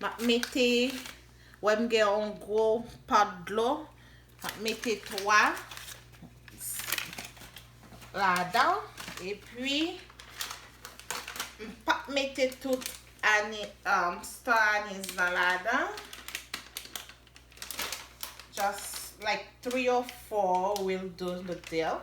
Map mete, wè m gen yon gwo pot dlo, map mete 3 ladan, epi m pap mete tout ani, stan anis lan ladan, just like 3 or 4 will do the deal.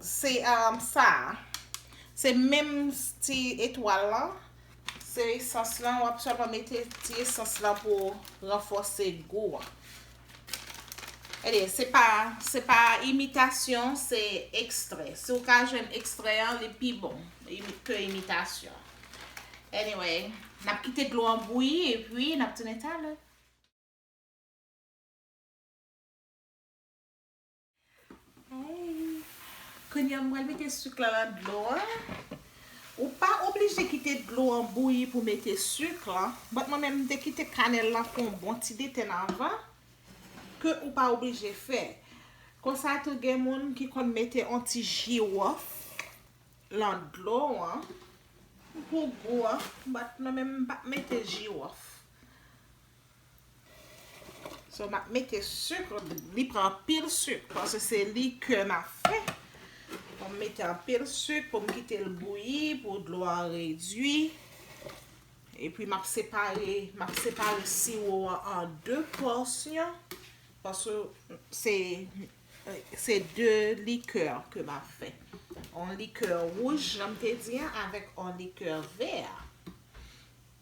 Se sa a. Se menm ti etwal lan. Se esans lan. Wap sèlman mete ti esans lan pou ranfòse gou an. Ede, se pa, se pa imitasyon, se ekstrè. Si ou ka jwenn ekstrè an, li pi bon ke imitasyon. Anyway, nap kite dlo an bouyi e pi nap tounen talè. Kounya m pral mete suk la nan dlo an. Ou pa oblije kite dlo an bouyi pou mete suk la. But mwen menm m te kite kanèl la fè yon bon ti deten avan. Ke ou pa oblije fè. Konsa tou gen moun ki konn mete yon ti jiwof lan dlo an. Pou gou an. But mwen menm m pa mete jiwof. So nap mete sucre, li pran anpil sucre paske se likè nap fè. Fòm mete anpil sucre pou m kite l bouyi pou dlo a redwi. E pi map separe, map separe siwo an an 2 pòsyon paske se se 2 likè ke map fè. On likè wouj jan m te di an avèk on likè vè a.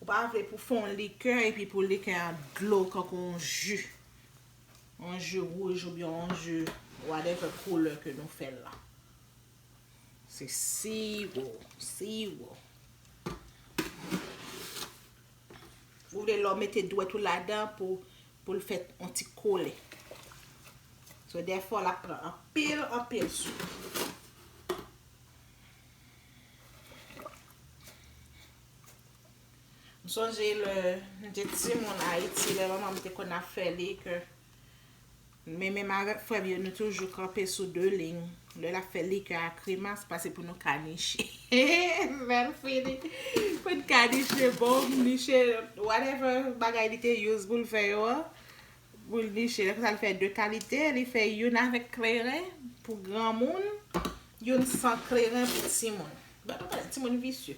Ou pa vle pou fè yon likè epi pou likè a dlo kankou yon ji. Yon ji wouj oubyen yon ji whatever koulè ke nou fè l la. Se siwo, siwo. Ou vle lè w mete dwèt ou ladan pou Pou l fè yon ti kole. So dèfò l ap pran anpil anpil sou. M sonje lè m te timoun Ayiti lè manman m te konn ap fè li ke men menm avèk frè m yo nou toujou kanpe sou 2 liy. Lè lap fè likè a kremas pase pou nou ka niche menl fini pou n ka niche bon niche whatever bagay li te use pou l fè yo an pou l niche lè konsa l fè 2 kalite li fè youn avèk kleren pou granmoun youn san kleren pou timoun bat ou konnen timoun visye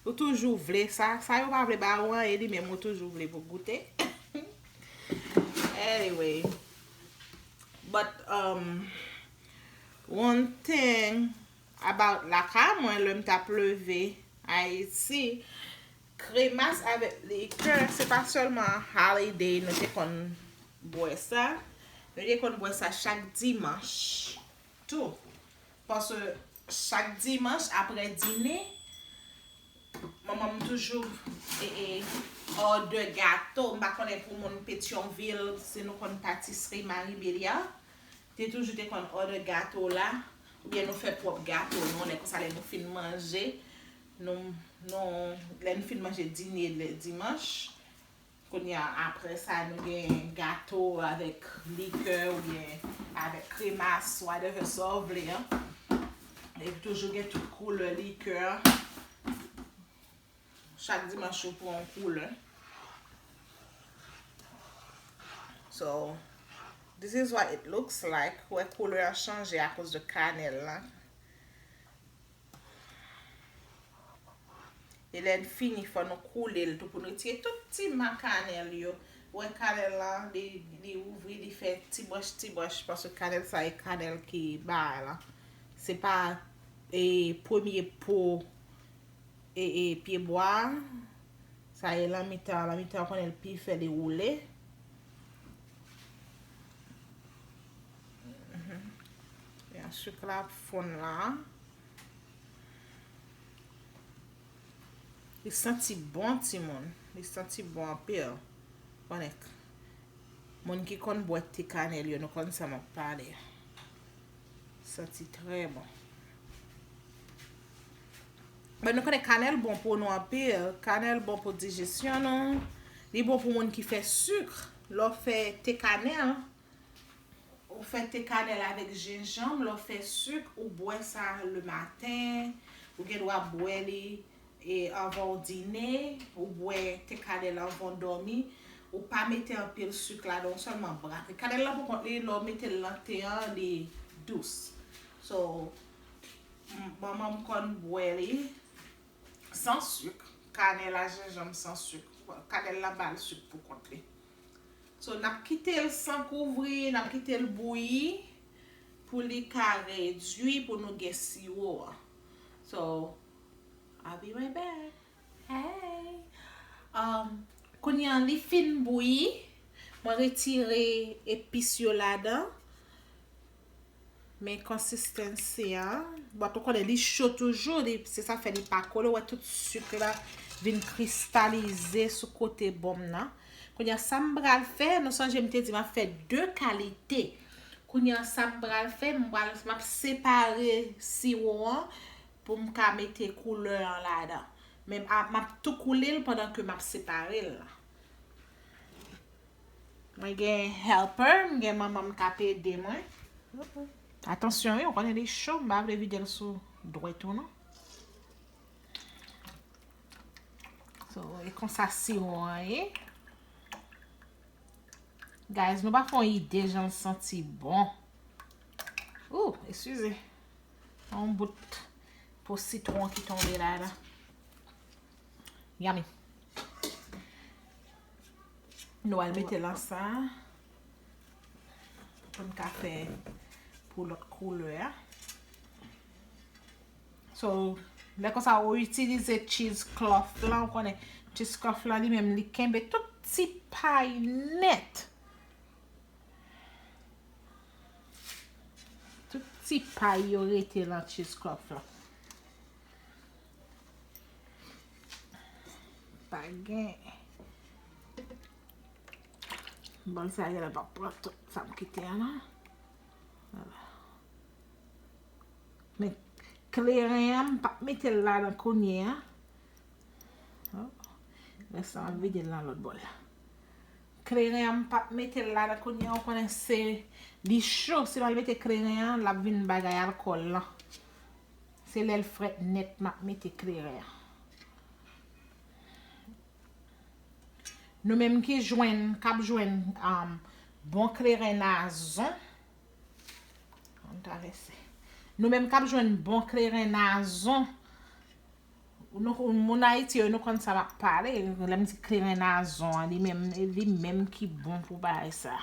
ou toujou vle sa sa yo pa vle ba ou an e li menm ou toujou vle pou goute anyway but umm. One thing about lakay mwen lèm tap leve Ayiti kremas avèk likè se pa sèlman holiday nou te konn bwè sa, nou te konn bwè sa chak dimanch tou paske chak dimanch aprè dine manman m toujou òdè gato m pa konnen pou moun petyonvil si nou konn patisri Marie Béliard Te toujou te konn order gato la ou byen nou fè pwop gato nou lè konsa lè nou fin manje nou nou lè nou fin manje dine le dimanch kounya aprè sa nou gen gato avèk likè ou byen avèk kremas whatever sa ou vle an e toujou gen tout koulè likè. Chak dimanch yo pran yon koulè. So, this is what it looks like. Ou wè koulè an chanje a koz de kanèl lan. E lè n fini fò nou koule l tou pou n retire tout ti ma kanèl yo. Ou wè kanèl lan li ouvri, li fè ti branch ti branch paske kanèl sa e kanèl ki ba la. Se pa e premye po. E e pye bwa a. Sa e lan mitan an. Lan mitan an konnen l pi fè li woule. E an suk la ap fonn la. Li santi bon ti moun. Li santi bon anpil. Konnen. Moun ki konn bwè te kanèl yo nou konn sa map pale. Santi trè bon. Mwen nou konnen kanèl bon pou nou anpil. Kanèl bon pou dijesyon nou. Li bon pou moun ki fè suk. Lè w fè te kanèl. Ou fè te kanèl avèk jenjanm. Lè w fè suk ou bwè sa le maten. Ou gen dwa bwè li. E anvan ou dine, ou bwè te kanèl anvan ou dòmi, ou pa mete anpil suk ladan ou sèlman brak li. Kanèl la pou kont li lè ou metel nan te an li dous. So manmanm konn bwè li san suk, kanèl a jenjanm san suk. Kanèl la bal suk pou kont li. So nap kitel san kouvri, nap kitel bouyi pou li ka redwi pou nou gen siwo an. So I'll be right back Hey um Kounye an li fin bouyi Mwen retire epis yo ladan Men konsistansi an Bon ou konnen li cho toujou li Se sa fè li pa kole Ou wè tout suk la vin kristalize sou kote bonm nan Kounye an sa m pral fè Nou sonje m te di m ap fè 2 kalite Kounye an sa m pral fè M pral m ap separe siwo an pou m ka mete koulè an ladan men map tou koule l pandan ke map separe l mwen gen helper m gen manman m kap ede mwen atansyon wi ou konnen li cho m pa vle vide l sou dwèt ou non so e konsa siwo an ye guys nou pa fon ide jan l santi bon ooh eskize Yon bout po sitwon ki tonbe la la. Yummy. Nou al mete lan sa. Pou n ka fe pou lot koule a. So, lè kon sa ou itilize cheese cloth la, ou konnen cheese cloth la li menm li kenbe tout ti pay net. Tout ti pay yo rete lan cheese cloth lan. Pa gen. Bon sa gen la pa pran tout sa m kite an lan. Men kleren an m pa mete l la nan kounye an. Rès la m ap vide l lan lòt bòl la. Kleren an m pap metel la nan kounya ou konnen se li cho si mal mete kleren an lap vin bagay alkòl lan se lèl frèt nèt map mete kleren an nou menm ki jwenn kap jwenn bon kleren nazon nou menm kap jwenn bon kleren nazon Moun ayiti yo nou konn sa map pale lèm di kleren nazon an li menm li menm ki bon pou bagay sa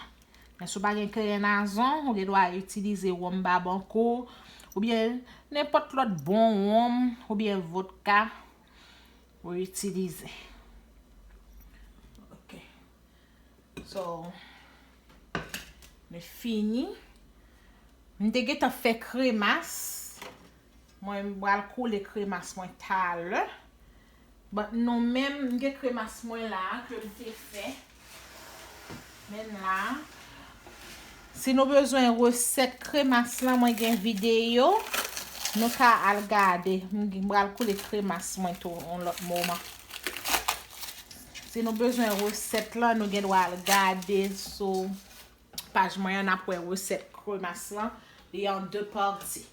men sou pa gen kleren nazon ou gen dwa itilize wonm babankou oubyen nenpòt lòt bon wonm oubyen vodka ou itilize ok So, mwen fini. Mwen te gentan fè kremas. Mwen bal kole kremas mwen talè. But nou menm, mwen gen kremas mwen la ke mwen te fè. Menm la. Si nou bezwen resèt kremas la, mwen gen videyo. Nou ka al gade. Mwen bal kole kremas mwen tou yon lòt moman. Si nou bezwen resèt lan nou gen dwa al gade sou paj mwen an nap wè resèt kremas lan li an 2 pati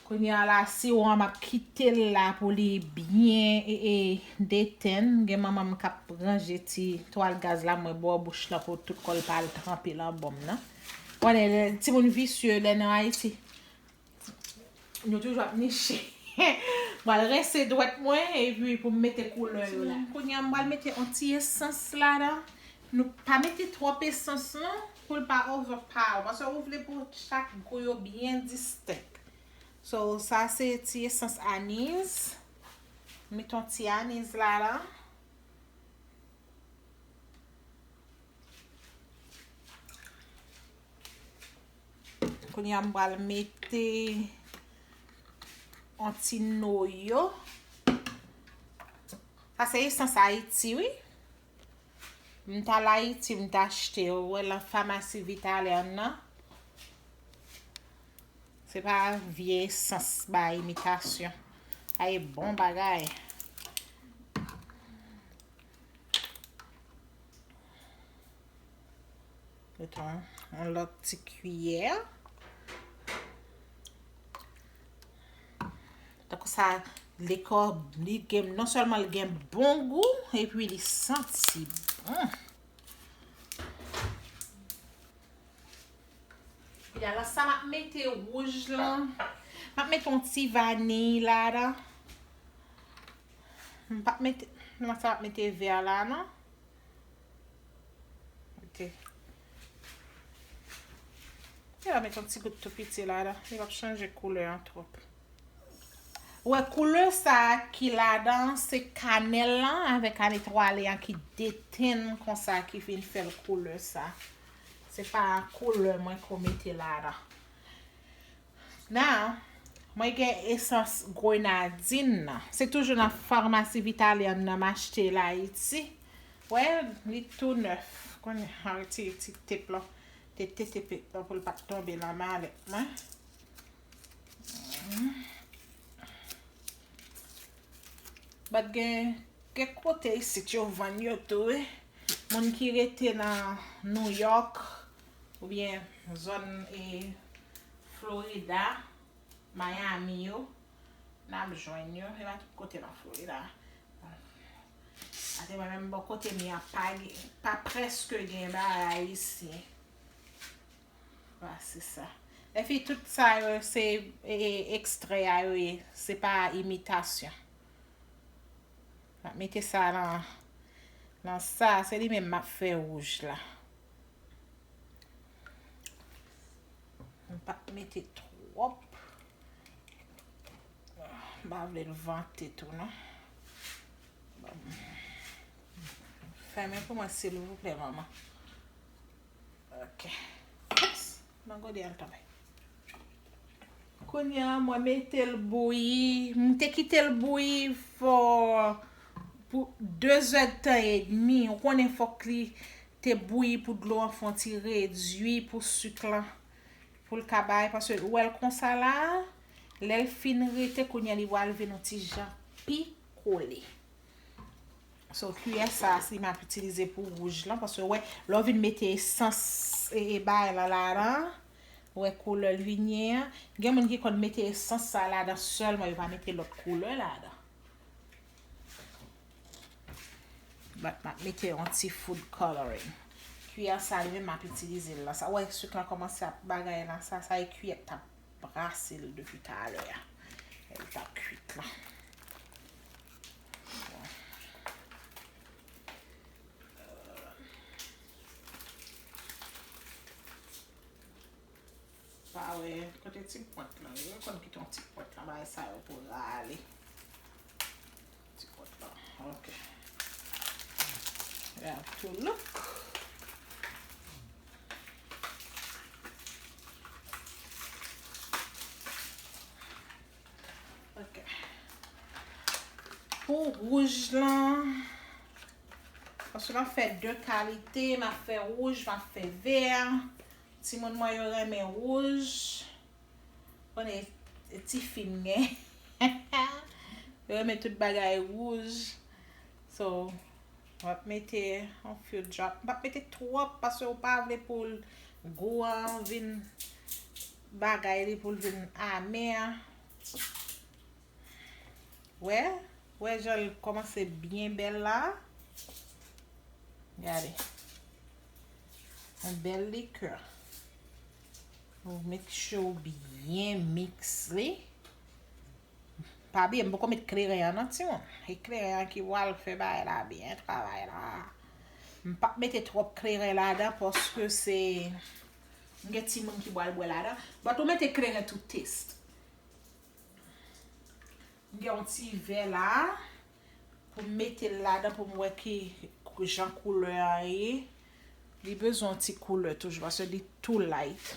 kounya la siwo an map kitel la pou li byen e detenn gen manmanm kap ranje ti twal gaz la mwen bò bouch la pou tout kòl pa al tranpe lan bonm nan ou konnen timoun visye lè nan ayiti. Nou toujou ap niche. Mwen al rense dwèt mwen epi pou m mete koulè yo la. Kounye a mwen al mete yon ti esans ladan. Nou pa mete twòp esans non pou l pa overpower. Paske ou vle pou chak gou yo byen distenk. So sa se ti esans aniz. Mete yon ti aniz ladan. Kounye a m pral mete yon ti noyo. Sa se esans Ayiti wi. M t al Ayiti m t achte yo wè lan famasi Vitalèr nan. Se pa vye esans ba imitasyon. Sa e bon bagay. Meton yon lòt ti kiyè. Tako sa li kò li gen non sèlman li gen bon gou epi li santi bon. Epi ala sa map mete wouj lan. Map mete yon ti vaniy la dan. Mpa mete, mpa mete vè la nan. Mete. Mete la met yon ti gout tou piti la dan. Li pap chanje koulè an twòp. Ou wè koulè sa ki la dan se kanèl lan avèk ane twale an ki detenn konsa ki vin fèl koulè sa. Se pa koulè mwen ko mete la dan. Now, mwen gen esans grenadin nan. Se toujou nan farmasi vitalya m nan m achte l Ayiti. Wè, li tou nèf. Konn m al retire ti tep lan. Te te te pep lan pou l pa t tonbe nan malèt mwen. Bat gen kèk kote isit yo vann yo tou wi. Moun ki rete nan Nouyòk. Ou byen zòn e Florida, Miami yo, nap jwenn yo, se pa tout kote nan Florida. Ate mwen menm bò kote m ya pa gen, pa preske gen bagay ayisyen. Vwa se sa. E fi tout sa yo se ekstrè a yo ye, se pa imitasyon. Mete sa nan sa, se li menm map fè wouj la. M pa t mete twòp. M pa vle l vante tou non. Fèmen pou mwen silvouplè manman. Ok. Nan gode al tanpè. Kounya mwen metel bouyi, m te kitel bouyi for pou 2 zè de tan e demi, ou konnen fok li te bouyi pou dlo an fon ti redui pou suk lan poul ka bay paske ou wèl konsa la, lèl fin rete kounya li pwal vin on ti jan pi kole. So kiyè sa si map itilize pou wouj lan paske ou wè lè ou vin mete esans e bay lan ladan an. Wè koulè linyen an. Gen moun ki konn mete esans sa ladan sèlman yo pa mete lòt koulè ladan. Bat map mete yon ti food coloring. Kiyè sa li menm map itilize l la. Sa wè suk la kòmanse ap bagay la sa. Sa e kiyè k tap brase l depi talè a. Lè li tap kuit la. Pa wè kote ti pwent lan ye. Ou konn kite yon ti pwent nan bagay sa yo pou w rale ti pwent lan. Ok. Li ap tou louk. Ok. Pou wouj lan, paske m ap fè de kalite, m ap fè wouj, m ap fè vè. Timoun mwen yo renmen wouj. Bon e ti fi m gen. Yo renmen tout bagay wouj. So, m ap mete yon few drop. M pa mete twòp paske ou pa vle pou gou an vin bagay li poul vin amer wè wè janl komanse byen bel la gade yon bel likè ou make sure ou byen mix li pa bliye m poko met kleren an nan timoun e kleren an ki wal fè bagay la byen travay la m pap mete trop kleren ladan paske se M gen timoun ki bwal bwè ladan. But ou mete kleren tout taste. M gen yon ti vè la. Pou m mete l ladan pou m wè ki jan koulè a ye. Li bezwen yon ti koulè toujou paske li too light.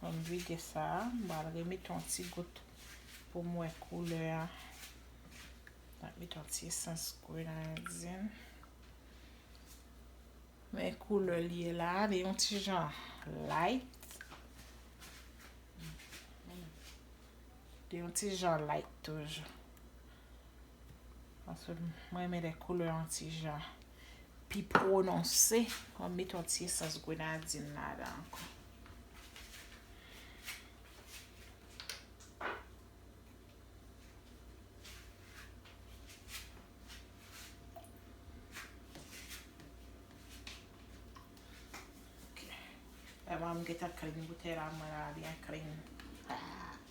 Mwen vide sa, mwen remete yon ti gout pou mwen koule a. Mwen met yon ti esans grenadin. Men koule li e la, li yon ti jan light. Li yon ti jan light toujou. M renmen lè koulè yon ti jan pi pwononse. M ap met yon ti esans grenadin ladan ankò. Eman m gentan klin boutèy la mwen la byen klin.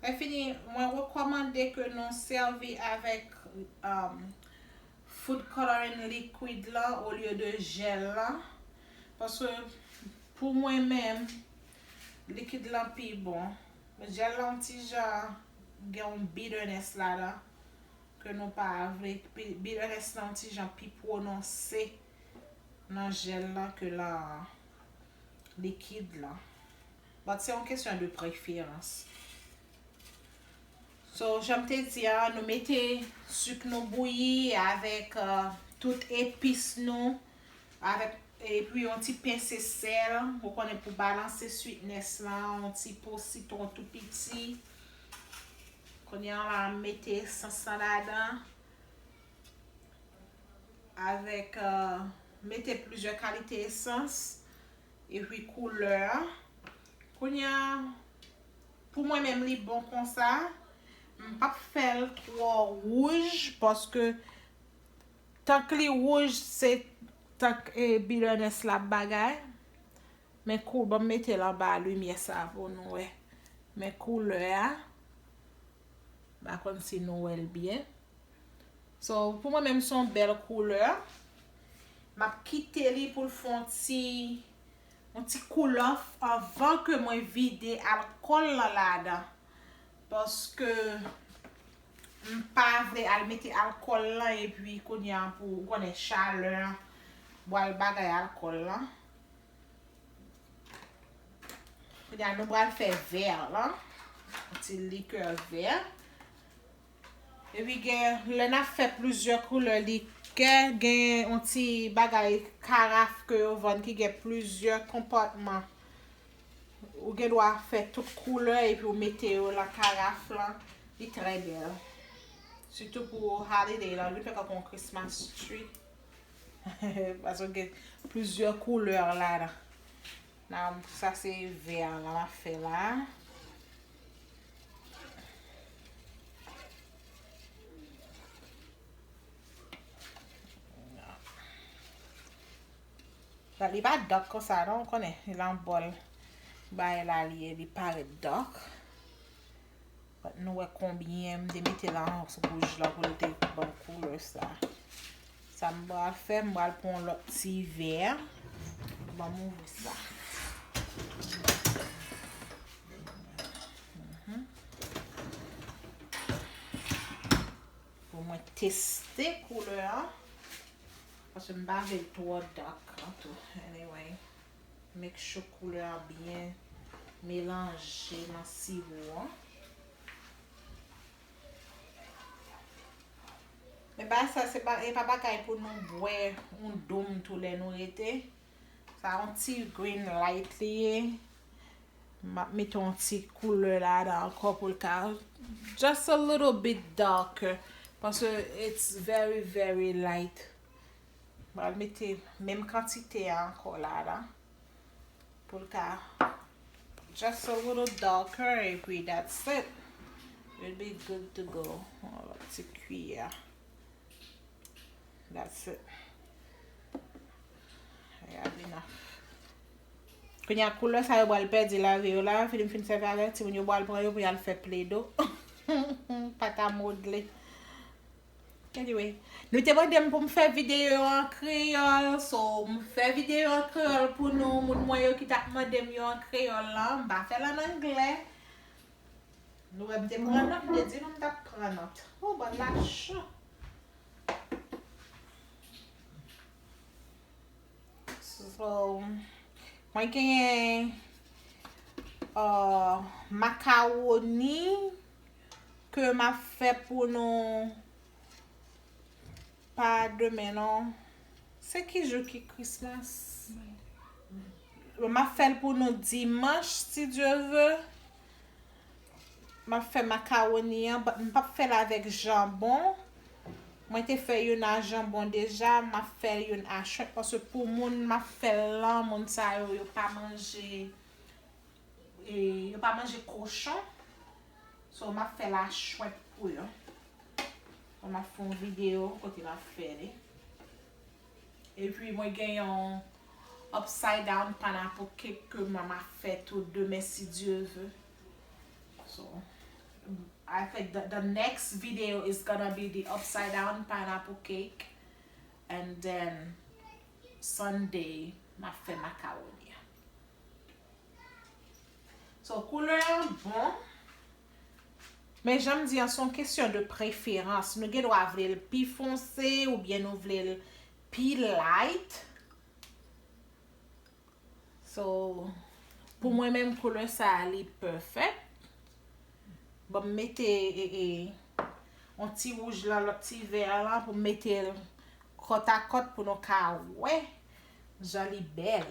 Enfini, mwen rekòmande ke nou sèvi avèk food coloring liquid la olye de jèl la, paske pou mwen menm likid la pi bon. Jèl la yon ti jan gen yon bitterness ladan ke nou pa vle, bitterness la yon ti jan pi pwononse nan jèl la ke nan likid la. But se yon kesyon de preferans. So janm te di a nou mete suk nou bouyi avek tout epis nou avek epi yon ti pence sel ou konnen pou balanse sweetness la yon ti po sitron tou piti. Kounya la m mete essence lan ladan avek mete plizyè kalite essence. Epi koulè a. Kounya pou mwen menm li bon konsa. M pap fèl twò wouj paske tank li wouj se tank e bitterness la ap bagay. Men kou banm metel anba limyè sa pou nou wè. Men koulè a. M pa konn si nou wèl byen. So pou mwen menm son bèl koulè. Map kite li poul fè yon ti yon ti cool off anvan ke mwen vide alkòl lan ladan. Paske m pa vle al mete alkòl lan epi kounya pou ou konnen chalè an bwal bagay alkòl lan. Kounya nou bwal fè vè lan. Yon ti likè vè. Epi gen lè nap fè plizyè koulè li kè gen yon ti bagay karaf ke yo vann ki gen plizyè konpatman. Ou gen dwa fè tout koulè epi ou mete yo lan karaf lan. Li trè bèl. Sitou pou holiday lan. Li fè tankou yon christmas tree. Paske gen plizyè koulè ladan. Nan sa se vè a la map fè la. Nan li pa dòk konsa non ou konnen. Li lan bòl. Bay la li e li parèt dòk. Nou wè konbyen m te mete la an wouj la pou l te ban koulè sa. Sa m pral fè, m pral pran yon lòt ti vè. Ban m ouvri sa. Pou mwen teste koulè an. Paske m pa vle l twò dak an tou. Anyway. Make sure koulè a byen melanje nan siwo an. Men bagay sa se pa e pa bagay pou nou bwè yon doum tou lè nou rete. Sa yon ti green light li ye. M ap mete yon ti koulè ladan ankò pou l ka just a little bit darker. Paske it's very very light. M pral mete menm kantite a ankò la la. Pou l ka just a little darker epi that's it. We'll be good to go. Yon lòt ti kiyè. That's it. We have enough. Kounye a koulè sa yo pral pèdi lavi yo la. Fini m fin sèvi avèk. Timoun yo pral pran yo pou y al fè Play-Doh. Pat a modle. Anyway, nou te mande m pou m fè videyo yo an kreyòl, so m fè videyo an kreyòl pou nou, moun mwen yo ki t ap mande m yo an kreyòl lan, m pa fè l an anglè. Nou wè m te pran nòt, m te di nou m t ap pran nòt. Woo bòl la cho! So, mwen genyen makawoni, Ke map fè pou nou pa demen non. Se ki jou ki Christmas? Bon map fèl pou nou dimanch si Dieu veut. Map fè macaroni an but m pap fèl avèk jambon. Mwen te fè youn a jambon deja, map fè youn a shrimp paske pou moun map fèl lan moun sa yo yo pa manje yo pa manje kochon so map fè la chwèt pou yo bon map fè yon video kote map fè li epi mwen gen yon upside down panapou cake ke mwen map fè tou demen si Dieu veut so I think that the next video is gonna be the upside down panapou cake and then Sunday map fè macaroni So koulè an bon. Men janm di an son kesyon de preferans. Nou gen dwa vle l pi fonse ou byen nou vle l pi light. So pou mwen menm koulè sa a li perfect. Bon m mete e yon ti wouj lan lòt ti vè a lan pou m mete l kòt a kòt pou nou ka wè jan li bèl.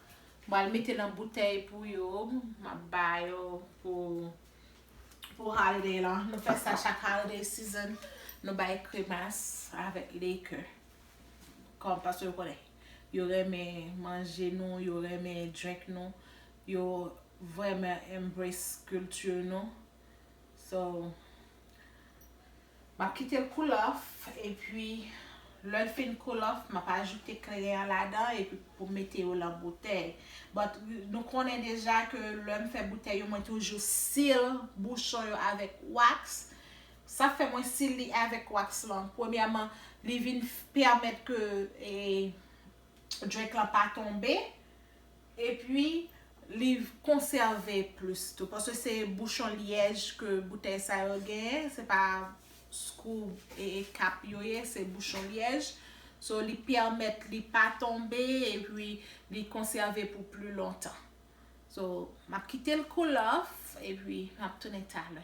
Mpral mete nan boutèy pou yo, map ba yo pou pou holiday lan. Nou fè sa chak holiday season, nou bay kremas avèk liquor. Kòm paske yo konnen yo renmen manje nou, yo renmen drink nou, yo vrèman embrace culture nou. So. Map kitel cool off epi lèl fin cool off map ajoute kleren an ladan epi poum mete yo lan boutèy but nou konnen deja ke lèm fè boutèy yo mwen toujou seal bouchon yo avèk wax sa fè mwen seal li avèk wax lan premyèman li vin pèmèt ke drink lan pa tonbe. Epi li konsève plis tou. Paske se bouchon lyèj ke boutèy sa yo genyen. Se pa skrou e kap yo ye. Se bouchon lyèj. So li pèmèt li pa tonbe. Epi li konsève pou pli lontan. So map kite l cool off. Epi map tounen talè.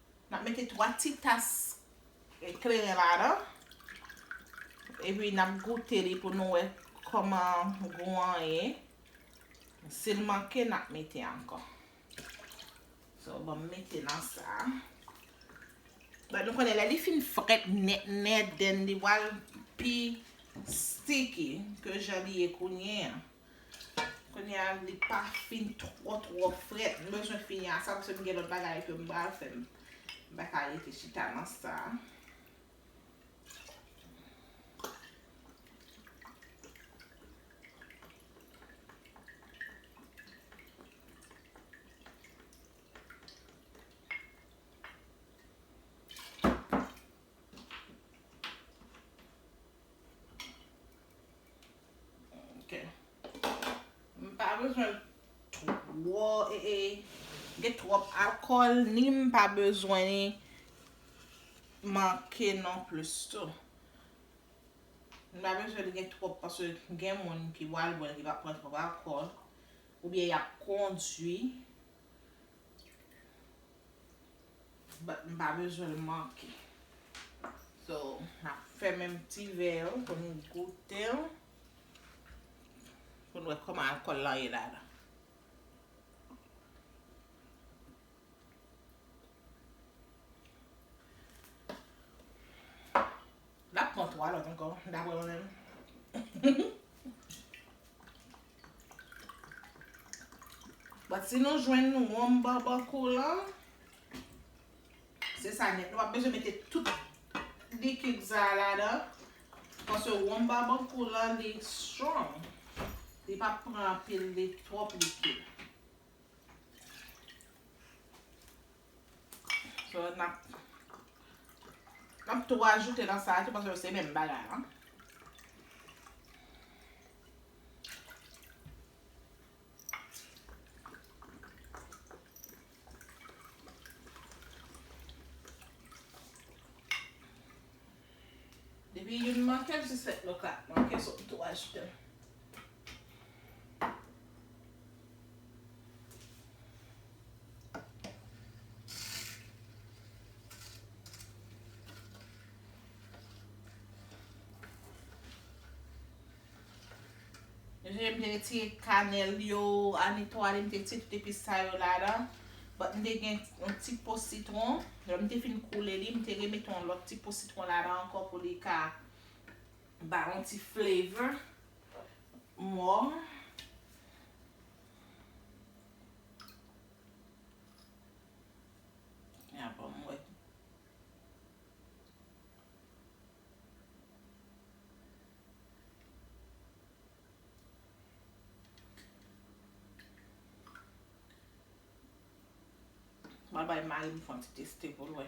N ap mete 3 ti tas kleren ladan. Epi n ap goute li pou nou wè kòman gou an ye. Si l manke, n ap mete ankò. So, banm mete nan sa. Bann nou konnen lè li fin frèt nèt nèt, then li pral pi sticky ke jan li ye kounye an. Kounye a li pa fin twò twò frèt. M bezwen fini a sa paske m gen lòt bagay ke m pral fè. M pa ka rete chita nan sa a. Ok. M pa bezwen l twò e e gen twòp alkòl ni m pa bezwen li manke non plis tou. M pa bezwen li gen twòp paske gen moun ki pral bwè l ki va pran twòp alkòl oubyen y ap kondwi. But m pa bezwen l manke. So, n ap fèmen ti vè yo pou nou goute l. Pou nou wè kòman alkòl lan ye ladan. L ap pran 3 lòt ankò, daprè mwen menm. But si nou jwenn ronm babakou lan. Se sa nèt. Nou pa bezwen mete tout likid sa a ladan. Paske ronm babakou lan li strong. Li pa pran anpil li twòp likid. So nap Nap tou ajoute nan sa a tou paske yo se menm bagay la. Depi youn manke l sou 7 lòt la ap manke sot tou ajoute l. Jen mte retire kanel yo a netwaye mte retire tout epis sa yo ladan but mte gen yon ti po sitron lè mte fin koule li mte remete yon lòt ti po sitron ladan ankò pou li ka bay yon ti flavor more. Mwen bay mari m fon ti teste pou l wè.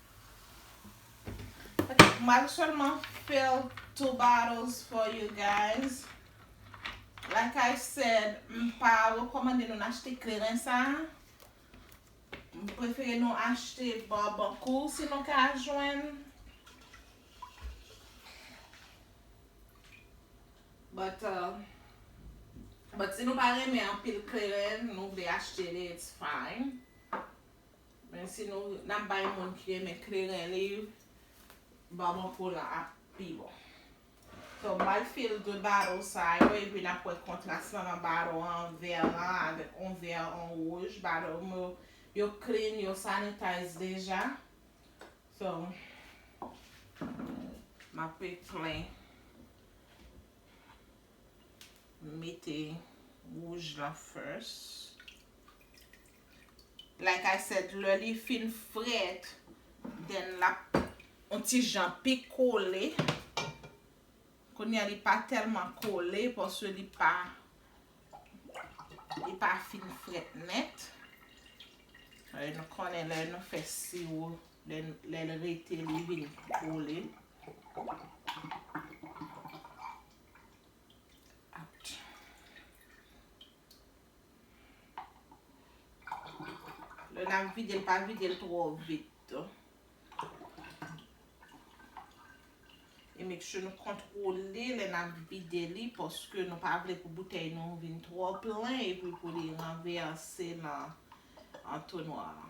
Ok mal selman fill 2 bottles for you guys like I said m pa rekomande nou achte kleren sa m prefere nou achte barbancool si nou ka jwenn but but si nou pa renmen anpil kleren nou vle achte li it's fine. Men si nou nap bay moun ki renmen kleren liv Barbancourt lan ap pi bon. So mal fil 2 baro sa yo epi nap wè kontras lan nan baro an vè lan avèk on vè on wouj baro yo yo clean yo sanitize deja so map pe plen mete wouj lan first. Like I said lè li fin fret then lap on ti jan pi kole. Kounye a li pa telman kole paske li pa li pa fin fret net. Alè nou konnen lè nou fè siwo lè l rete li vin kole. Lè n ap vide l, pa vide l twò vit tou. E make sure nou kontwole lè n ap vide li paske nou pa vle pou boutèy nou vin twò plen epi pou li ranvèse nan antonwa a.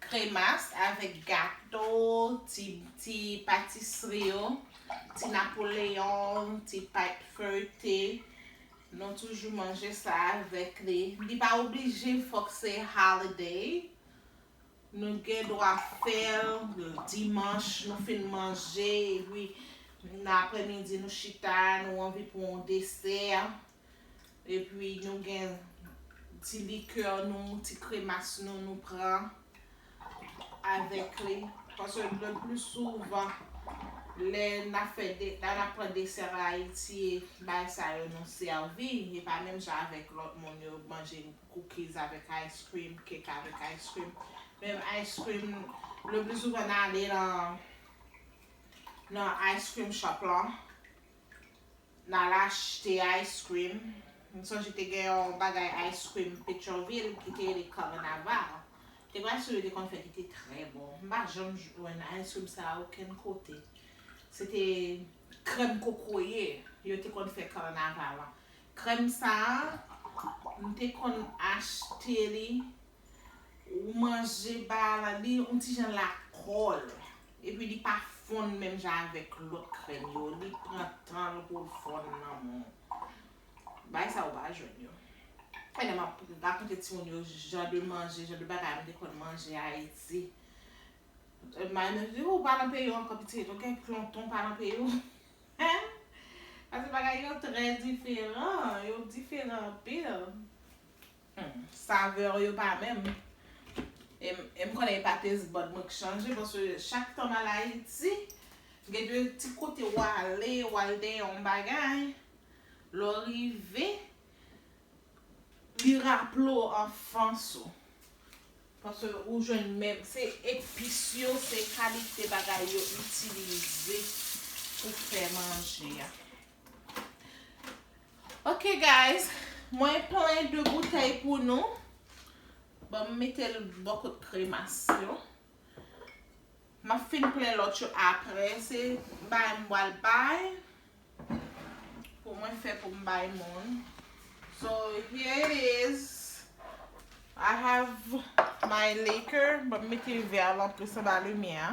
Kremas avèk gato, ti ti patisri yo, ti napoleon, ti pait feuillete, nou toujou manje sa avèk li. Li pa oblije fòk se holiday, nou gen dwa fèl dimanch nou fin manje epi nan aprè midi nou chita nou anvi pran yon desè. Epi nou gen ti likè nou, ti kremas nou, nou pran avèk li. Paske le plis souvan, lè n ap fè de, lè n ap pran desè an Ayiti, e bagay sa yo nou sèvi. E pa menm jan avèk lòt moun yo manje cookies avèk ice cream, cake avèk ice cream. Menm ice cream, le plis souvan n ale nan, nan ice cream shop lan. Nal achte ice cream. M sonje te gen yon bagay ice cream Petyonvil ki te rele Carnaval. Te gen yon ice cream yo te konn fè ki te trè bon. M pa janm jwenn ice cream sa a okenn kote. Se te krèm kokoye yo te konn fè Carnaval an. Krèm sa a, m te konn achte li Ou manje baa la li on ti jan la kòl epi li pa fonn menm jan avèk lòt krèm yo li pran tanl poul fonn nan moun bay sa ou pa jwenn yo pèdè map rakonte timoun yo jan de manje jan de bagay mte konn manje ayiti may mwen di ou pa nan peyi ou ankò pitit ok tonton pa nan peyi ou hein pase bagay yo trè diferan yo diferan anpil. Humm saveur yo pa menm. Em konnen e pa taste bud mwen k chanje paske chak tanm al ayiti gen de ti kote w ale w al dèyè yon bagay lè w rive li raple w anfans ou paske ou jwenn menm se epis yo se kalite bagay yo itilize pou fè manje a. Ok guys mwen plen 2 boutèy pou nou bon m mete l bò kot kremas yo m ap fin plen lòt yo aprè se bay m pral bay pou mwen fè pou m bay moun so here it is I have my liquor bon m mete vè a l anplis anba limyè a.